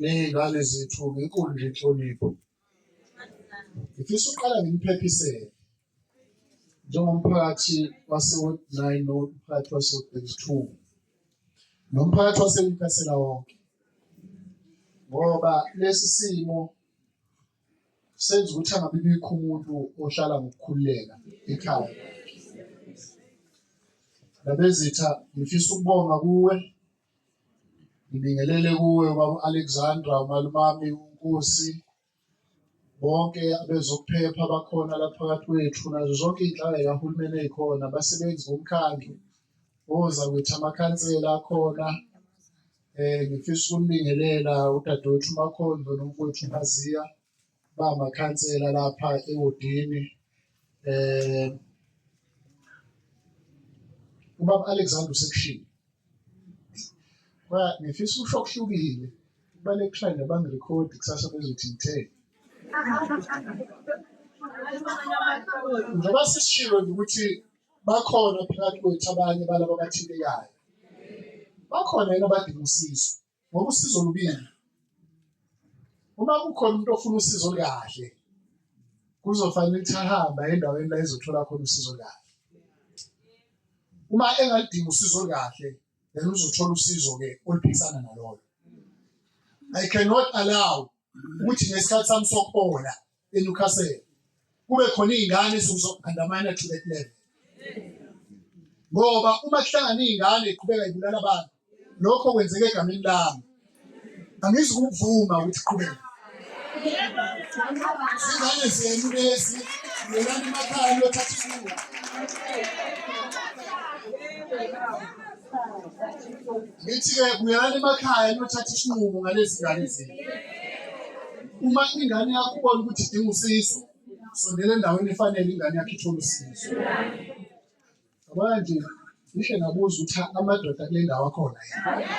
ney'ngane zethu ngenkulu nje inhlonipho ngifisa uqala ngimphephise njengomphakathi wase-ward nine nomphakathi wase-ward thirty two nomphakathi wasenkasela wonke ngoba lesi simo senza ukuthi angabi bikho umuntu ohlala ngokukhululeka ekhaya labezitha ngifisa ukubonga kuwe Ngibingelele kuwe ubaba Alexandra umalumami uNkosi bonke abezokuphepha abakhona la phakathi kwethu nazo zonke iy'nhlaka y'kahulumeni ey'khona abasebenzi bomkhandlu oza kwethu amakhansela akhona um ngifisa ukunibingelela udadewethu umakhondlo nomfowethu umaziya bamakhansela lapha ewodini eh ubaba Alexander usekushini ba ngifisa usho okuhlukile bale client abangi record kusasa bezothi ngithe njengoba sisishilo ukuthi bakhona phakathi kwethu abanye balaba abathintekayo bakhona yena abadinga usizo ngoba usizo lubili uma kukhona umuntu ofuna usizo kahle kuzofanele ukuthi ahambe endaweni la ezothola khona usizo kahle uma engalidinga usizo kahle then uzothola usizo ke oluphikisana nalolo i cannot allow ukuthi ngesikhathi sami sokubola eNewcastle kube khona izingane zokuzokhandamana to that level ngoba uma kuhlangana izingane iqhubeka ibulala abantu lokho kwenzeke egameni lami angizi kuvuma ukuthi qhubeka izingane zenu lezi yelani emakhaya lothatha isinqumo Ngithi-ke buyelani emakhaya niyothatha isinqumo ngalezi ngane zenu. Uma ingane yakho ubona ukuthi idinga usizo, sondela endaweni efanele ingane yakho ithole usizo. Yabona nje, ngihle ngabuza ukuthi amadoda kule ndawo akhona yini?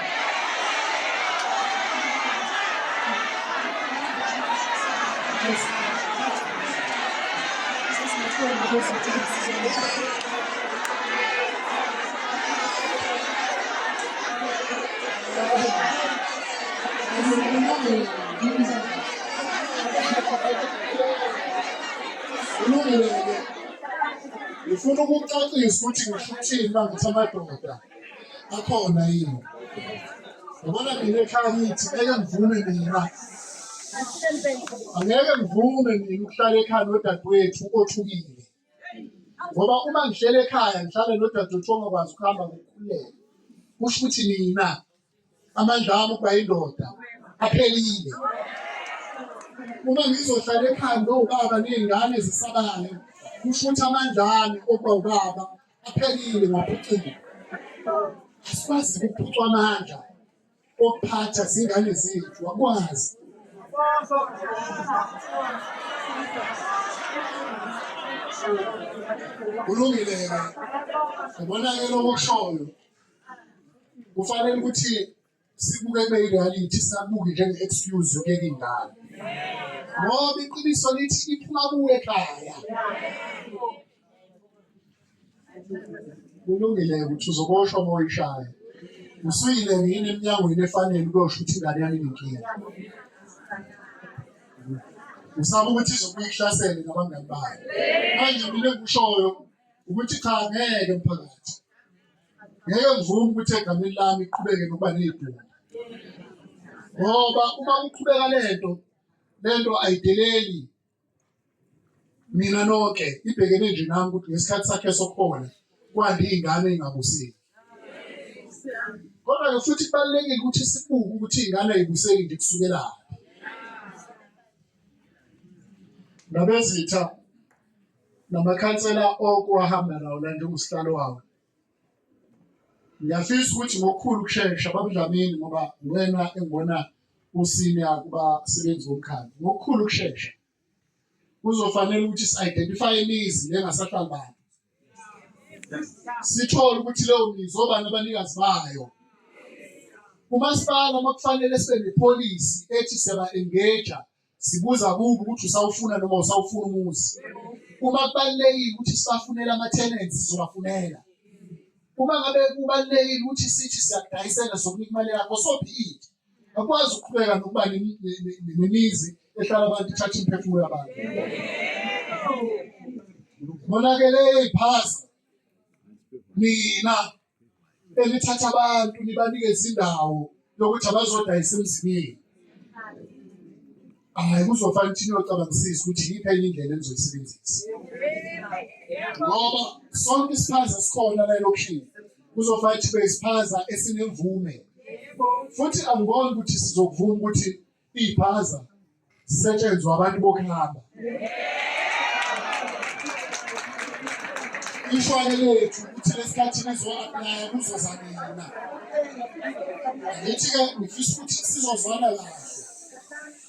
Thank you. ngifuna ukucacisa ukuthi ngisho ukuthini uma ngithi amadoda akhona yini yabona mina ekhaya ngithi ngeke ngivume mina angeke ngivume mina ukuhlala ekhaya nodadewethu othukile ngoba uma ngihlele ekhaya ngihlale nodadewethu ongakwazi ukuhamba ngokukhululeka kusho ukuthi nina amandla ami ukuba yindoda aphelile uma ngizohlala ekhaya nowubaba ney'ngane zisabale kusho ukuthi amandla ami okuba ubaba aphelile ngaphucile asikwazi ukuphucwa amandla okuphatha zingane zethu wakwazi kulungile ke ubona ke lokho kushoyo kufanele ukuthi sibuke kube reality sabuke njenge excuse yokuyeka ingane ngoba iqiniso lithi iphuma kuwe ekhaya kulungile ukuthi uzoboshwa uma uyishaya usuyile yini emnyangweni efanele ukuyosho ukuthi ingane yami inenkinga usaba ukuthi izobuye ihlasele nabangani bayo manje mina engikushoyo ukuthi cha ngeke mphakathi ngeke ngivume ukuthi egameni lami iqhubeke nokuba ney'bhungu ngoba uma kuqhubeka lento lento ayideleli mina nonke ibhekene nje nami ukuthi ngesikhathi sakhe sokuhola kwande iy'ngane ingabuseki kodwa-ke futhi kubalulekile ukuthi sibuke ukuthi iy'ngane ayibuseki nje kusukelaphi nabezitha namakhansela okuwahamba nawo la njengoSihlalo wawo Ngiyafisa ukuthi ngokukhulu ukushesha babudlamini ngoba wena engibona usine akuba sebenzi womkhandlu ngokukhulu ukushesha kuzofanele ukuthi si-identify imizi lengasahlali bantu sithole ukuthi leyo mizi obani abanikazi bayo umasipala uma kufanele sibe nepholisi ethi siyaba-engaja sibuza kubo ukuthi usawufuna noma usawufuna umuzi uma kubalulekile ukuthi sibafunele ama-tenants sizobafunela uma ngabe kubalulekile ukuthi sithi siyakudayisela sokunika imali yakho sophinde akwazi ukuqhubeka nokuba nemizi ehlala abantu ithatha imiphefumulo yabantu konakele iphasa nina elithatha abantu nibanikeze indawo yokuthi abazodayisa emzimini hayi kuzofana ukuthi niyocabangisisa ukuthi yiphi enye indlela enizoyisebenzisa ngoba sonke isiphaza sikhona la elokhini kuzofana ukuthi besiphaza esinemvume futhi angiboni ukuthi sizokuvuma ukuthi iy'phaza zisetshenzwa abantu bokuhamba ishwane lethu ukuthi lesikhathini ezoaplaya kuzoza mina ngithi-ke ngifisa ukuthi sizozwana kahle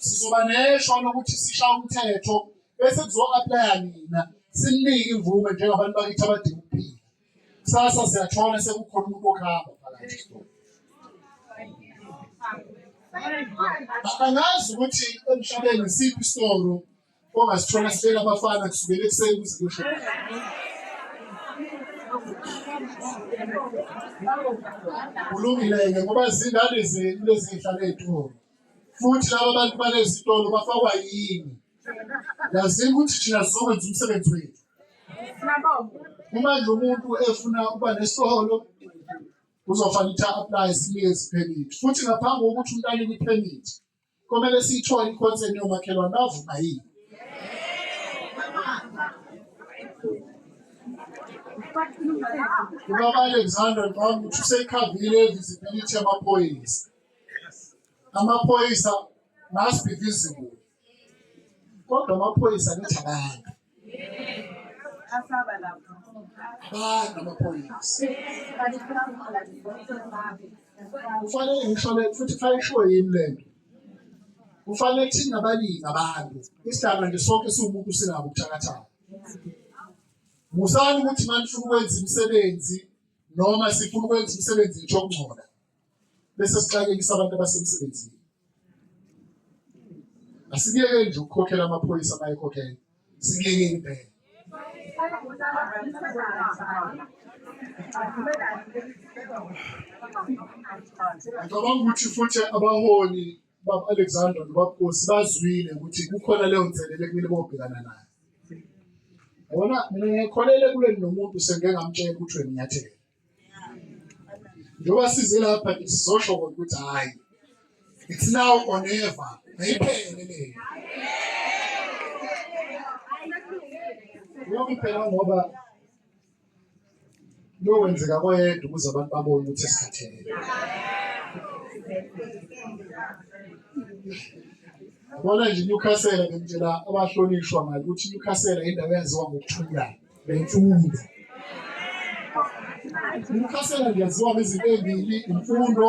sizoba nesho lokuthi sisha umthetho bese kuzo-aplaya nina sinike imvume njengabantu bakithi abadinga ukuphila Kusasa siyathola sekukhona umuntu okuhamba phakathi. Angazi ukuthi emhlabeni isiphi isitoro ongasithola sifela abafana kusukela ekuseni kuze kusho. Kulungile-ke ngoba zingane zenu lezi zihlala ey'tolo futhi laba bantu balezitolo bafakwa yini Yazini ukuthi thina sizokwenza umsebenzi wethu. Uma nje umuntu efuna ukuba nesitolo uzofanele ukuthi a-apply siye permit futhi ngaphambi kokuthi umuntu anike i-permit komele siyithole i-consent yomakhelwane bavuma yini ubaba alexander ngicabanga ukuthi useyikhavile visibility yamaphoyisa amaphoyisa must be visible kodwa amaphoyisa kuthi abantu abantu amaphoyisa kufanele ngishole futhi kufanele kushiwo yini le nto kufanele kuthini nabaningi abantu isidalwa nje sonke siwumuntu sinabo ubuthakathaka musani ukuthi manifuna ukwenza imisebenzi noma sifuna ukwenza imisebenzi ngisho okungcola bese sixakekisa abantu abasemsebenzini asibiyeke nje ukukhokhela amaphoyisa abayekhokhela sibiyeke impela ngicabanga ukuthi futhi abaholi baba-alexander nobabukosi bazwile ukuthi kukhona leyo nselele kumele bobhekana nayo yabona mina ngikholele kuleli nomuntu sengike ngamtshela ukuthi wenyathela njengoba size lapha nje sizosho kodwa ukuthi hhayi it's now or never ayiphele le uyokuphela ngoba kuyokwenzeka koyedwa ukuze abantu babone ukuthi esikhathele Bona nje iNewcastle bengitshela abahlonishwa ngale ukuthi iNewcastle indawo yaziwa ngokuthula. nemfundo. Umkhasela ngiyaziwa ngezinto ezimbili imfundo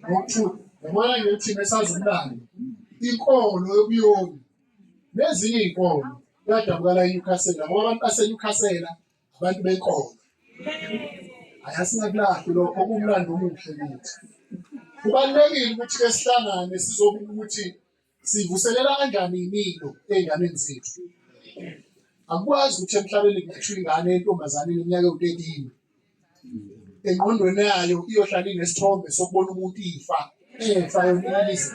nokuthula. Yabona nje thina esazimlando inkolo yobuyoni nezinye iy'nkolo kuyadabukala eNewcastle ngoba abantu baseNewcastle abantu benkolo. Hhayi asingakulahli lokho kumlando omuhle kithi. Kubalulekile ukuthi-ke sihlangane sizobika ukuthi Sivuselela kanjani imilo ey'nganeni zethu? Akukwazi ukuthi emhlabeni kungathiwa ingane yentombazane iminyaka ewu-13 engqondweni yayo iyohlala inesithombe sokubona umuntu ifa efa yonilisa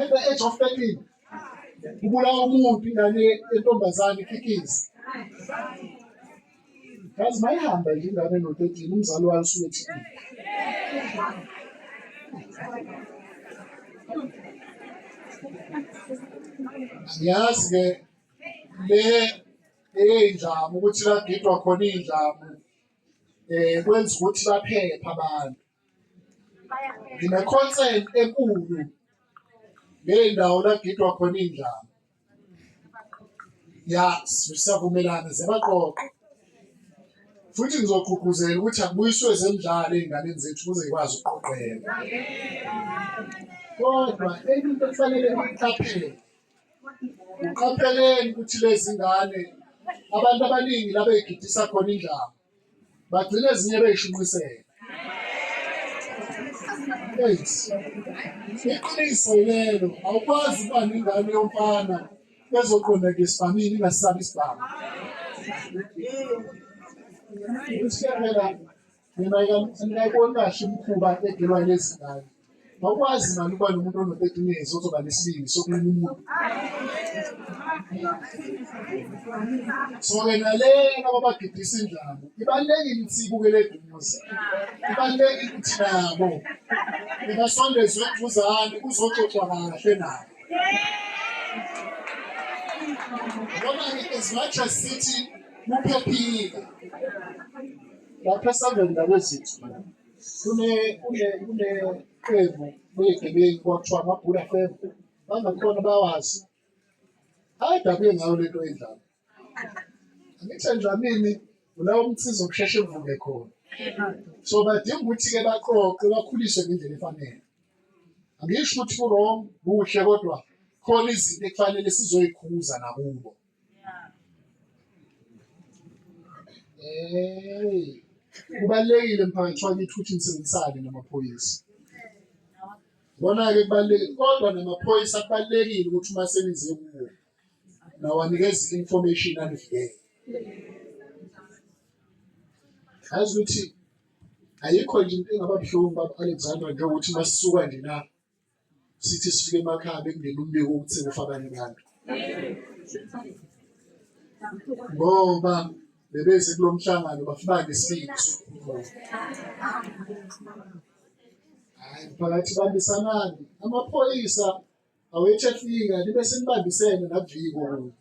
at the age of 13 kubulawa umuntu ingane yentombazane ikhikizi Kazi mayihamba nje ingane no-13 umzali wayo usuwethi. Ngiyazi ke le eyinjamu ukuthi lagidwa khona iy'njamu um kwenza ukuthi baphephe abantu. Ngine-concert enkulu ngey'ndawo lagidwa khona iy'ndlama. Ya siyavumelana ziyabaqoqa futhi ngizogqugquzela ukuthi akubuyiswe zemidlalo ey'nganeni zethu ukuze zikwazi ukuqoqeka. Kodwa enye into ekufanele bayiqaphele, uqapheleni ukuthi lezi ngane abantu abaningi la bey'gidisa khona indlama bagcina ezinye beyishunqisela iqiniso lelo awukwazi ukuba nengane yomfana ezoqondeka esibhamini ingasabi isibhamu usiyalela mina ngingayiboni kahle umkhuba egelwa lezi ngane Ngokwazi mani uba nomuntu ono-thirteen years ozoba nesibindi sokulima umuntu. So-ke nalena babagidisa indlamu ibalulekile ukuthi ibukele eduze ibalulekile ukuthi nabo ibasondezwe eduzane kuzoxoxwa kahle nabo ngoba as much as sithi kuphephile lapha esandleni ndabezithu kuneqembu legebengu kwakuthiwa amabhula fem bangakhona bawazi ayidabule ngayo lento endlala angithi endlamini ulawo umsiza okusheshe uvuke khona so badinga ukuthi-ke baqoqe bakhuliswe ngendlela efanele angisho ukuthi kurong kuhle kodwa khona izinto ekufanele sizoyikhuza nakubo Hey. Kubalekile mphakathi wakithi ukuthi nisebenzisane namaphoyisa. Bona-ke kubalulekile kodwa namaphoyisa kubalulekile ukuthi uma senize kuwo nawanikeza i-information anivikele. Yazi ukuthi ayikho nje into engaba buhlungu baba Alexander njengokuthi masisuka nje la sithi sifike emakhaya bekungena umbiko ukuthi sekufa abanye abantu ngoba bebeze kulo mhlangano bafake isibindi sokukhuluma hayi phakathi bandisanani amaphoyisa awethe fika libe senibambisene naviko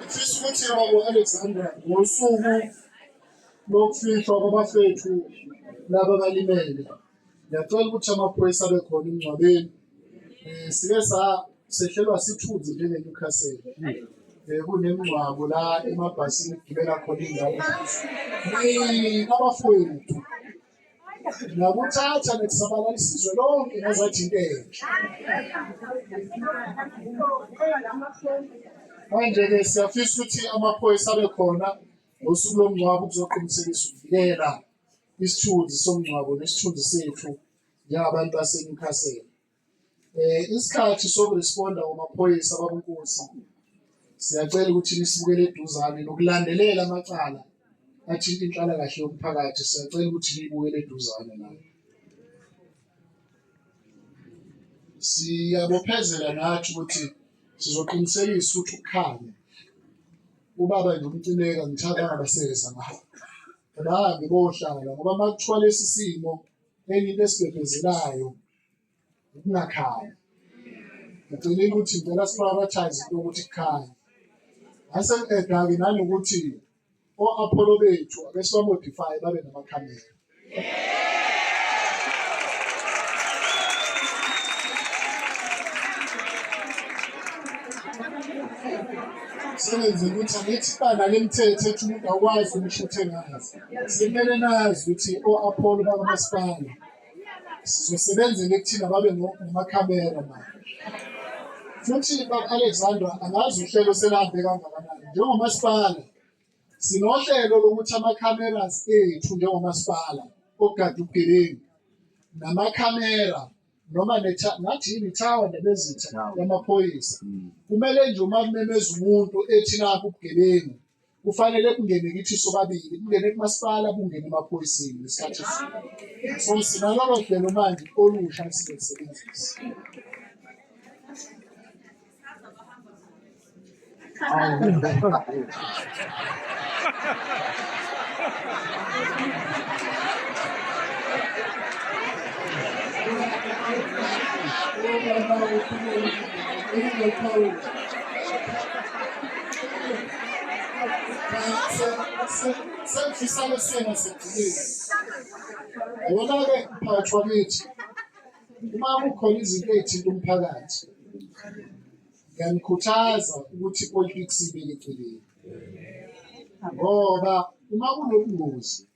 Ngifisa ukuthi Baba Alexander ngosuku lokufihlwa kwabafethu laba balimele. Ngiyacela ukuthi amaphoyisa abe khona emngcwabeni. Eh sike sa sehlelwa sithunzi njenge Newcastle. Eh kunemngcwabo la emabhasini gibela khona ingane. Ni abafowethu nakuthatha nekusabalala isizwe lonke nezajinteka manje-ke siyafisa ukuthi amaphoyisa abe khona ngosuku lomngcwabo kuzoqinisekisa ukuvikela isithunzi somngcwabo nesithunzi sethu njengabantu baseNewcastle Eh isikhathi sokuresponda kwamaphoyisa babunkosi siyacela ukuthi nisibukele eduzane nokulandelela amacala athinta inhlalakahle yomphakathi siyacela ukuthi niyibukele eduzane nayo. Siyabophezela nathi ukuthi sizoqinisekisa ukuthi ukhanye ubaba nje umcineka ngithanda angabasebenza ngayo bahambe bohlala ngoba uma kuthiwa lesi simo enye into esibhebhezelayo ukungakhali ngicela ukuthi ngicela siprioritize into ukuthi kukhanye asenqeda-ke nanokuthi o-apholo bethu abesibamodifye babe namakhamera sebenze ukuthi angithi bana lemithetho ethi umuntu awukwazi ukushuthelazi simele nazi ukuthi o-apholo bakamasipala sizosebenzela ekuthina babe namakhamera manje futhi baka-alexandra angazi uhlelo selahambe kangakanani njengomasipala sinohlelo lokuthi ama-cameras ethu njengomasipala ogada ubugebengu namakhamera noma ngathi yini ithawa nebezitha yamaphoyisa mm. kumele nje uma kumemeza umuntu ethi nakho ubugebengu kufanele kungene kithi sobabili kungene kumasipala kungene emaphoyiseni ngesikhathi esini so sinalolo hlelo manje olusha esizolisebenzisa Thank you. Sengifisane sena sejulile. Yona-ke mphakathi wakithi, uma kukhona izinto ey'thinta umphakathi, ngiyanikhuthaza ukuthi ipolitiksi ibe eceleni. Ngoba uma kunobungozi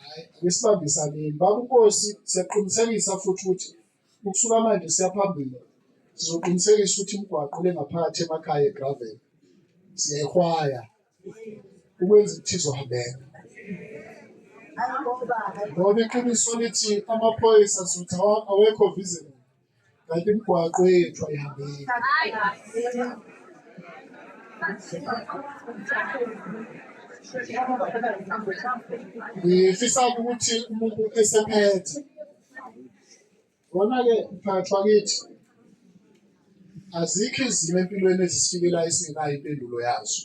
Hayi, ake sibambisaneni. Baba uNkosi, siyaqinisekisa futhi ukuthi ukusuka manje siya phambili. Sizoqinisekisa ukuthi imigwaqo le ngaphakathi emakhaya eGravel siyayihwaya ukwenza ukuthi izohambeka. Ngoba iqiniso lithi amaphoyisa sizothi awa- awekho visible. kanti imigwaqo yethu ayihambeki. Ngifisa ukuthi umuntu esephethe kona-ke mphakathi wakithi azikho izimo empilweni ezisifikela esingenayo impendulo yazo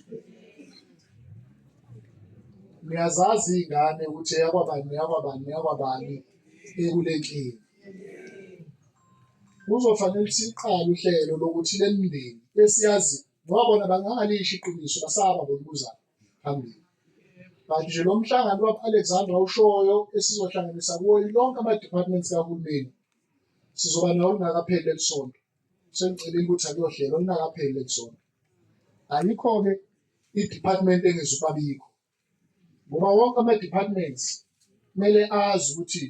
niyazazi iy'ngane ukuthi eyakwabani neyakwabani neyakwabani ekulentini kuzofanele siqale uhlelo lokuthi le mindeni esiyazi ngoba bona bangangalisho iqiniso basaba ngolibuza phambili kanti nje lo mhlangano wab-alexandra ushoyo esizohlanganisa kuwo lonke ama-departments kahulumeni sizoba nawo lingakapheli leli sonto sengicelile ukuthi akuyohlelo lingakapheli leli sonto ayikho-ke i-department engizubabikho ngoba wonke ama-departments kumele azi ukuthi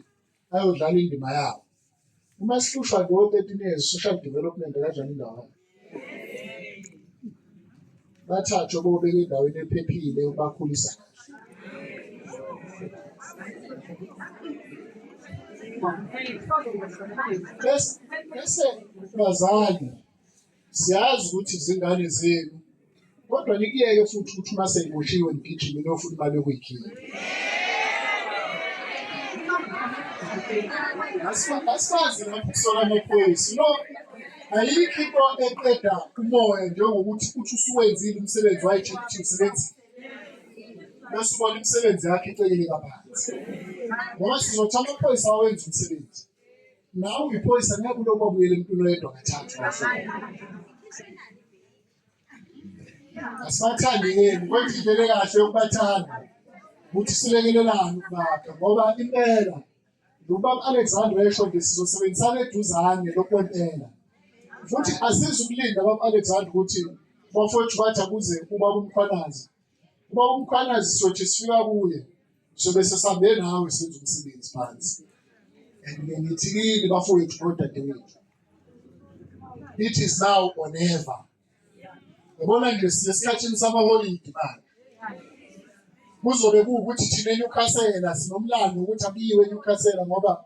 ayodlala indima yawo uma sihlushwa nje o-thirteen years social development akadlala indawo bathathwe bobeka endaweni ephephile ubakhulisa bese bese bazali Siyazi ukuthi izingane zenu kodwa nikuyeke futhi ukuthi uma seyiboshiwe nigijime niyofuna imali yokuyikhipha. Asifazi lapho kusola amaphoyisa. No, ayikho into eqeda umoya njengokuthi uthi usuwenzile umsebenzi wayitshela ukuthi usebenzi bese ubona imisebenzi yakhe iceleke kabanzi ngoba sizothatha amaphoyisa awenza umsebenzi Nawe uyiphoyisa ngeke ulokhu wabuyela emntwini oyedwa kathathu. Asibathandi yenu kwenza indlela kahle yokubathanda ukuthi silekelelane ukubakha ngoba impela nobaba Alexander esho nje sizosebenzisana eduzane lokwempela futhi asizukulinda baba Alexander ukuthi bafowethu bathi akuze ubaba umkhwanazi Uma umkhwanazi sothi sifika kuye sobe sesabe nawe senza umsebenzi phansi. And ngithi kini bafowethu nodadewethu. It is now or never. Yabona nje sisesikhathini samaholidi manje. Kuzobe kuwukuthi thina eNewcastle sinomlando ukuthi abiyiwe eNewcastle ngoba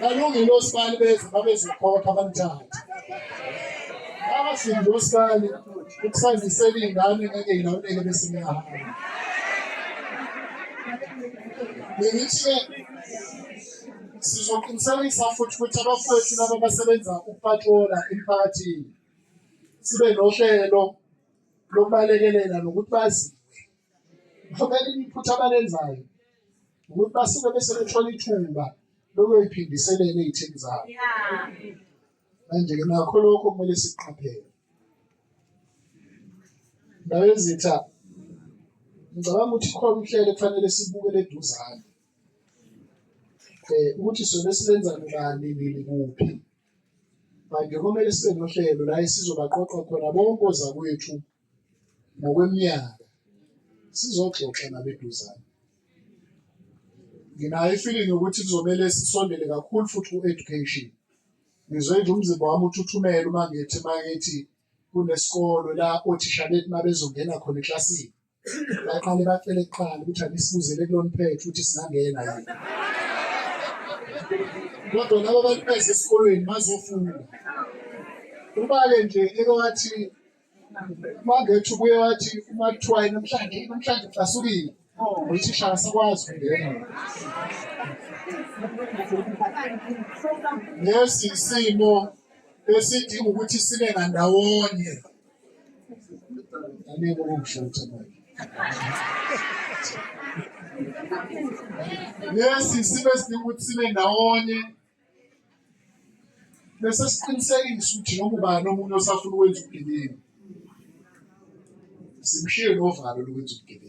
balungile osibali bethu babezokhokha bamthathe abashingi osibali ukusazisela iy'ngane ngeke yilawuleke bese ngiyahamba bengithi-ke sizoqinisekisa futhi ukuthi abafowethu laba basebenza ukupatrola emphakathini sibe nohlelo lokubalekelela nokuthi bazi Ngokela iphutha abalenzayo ukuthi basuke bese bethola ithuba lokuyoyiphindiselela ey'thini zabo. Manje-ke nakho lokho kumele siqaphele. Ndawo ezitha ngicabanga ukuthi khona uhlelo kufanele sibukele eduzane um ukuthi sona silenza ngani nini kuphi manje kumele sibe nohlelo la esizobaqoqa khona bonke ozakwethu ngokweminyaka sizoxoxa nabeduzane nginayo ifeeling yokuthi kuzomele sisondele kakhulu futhi ku-education ngizwe nje umzimba wami uthuthumela uma ngithi uma ngithi kunesikolo la othisha bethu uma bezongena khona eklasini baqale bacele kuqala ukuthi anisibuzele kuloniphethe ukuthi singangena yini kodwa laba bantu beze esikolweni bazofunda uba-ke nje eke wathi Mangethu ubuye wathi uma kuthiwa namhlanje namhlanje kusasukile uthisha asikwazi ukungena lesi isimo esidinga ukuthi sibe ngandawonye anike okusho ukuthi manje lesi isimo esidinga ukuthi sibe ndawonye bese siqinisekisa ukuthi noma ubani omunye osafuna ukwenza ubugebengu simshiye novalo lokwenza ubugebengu.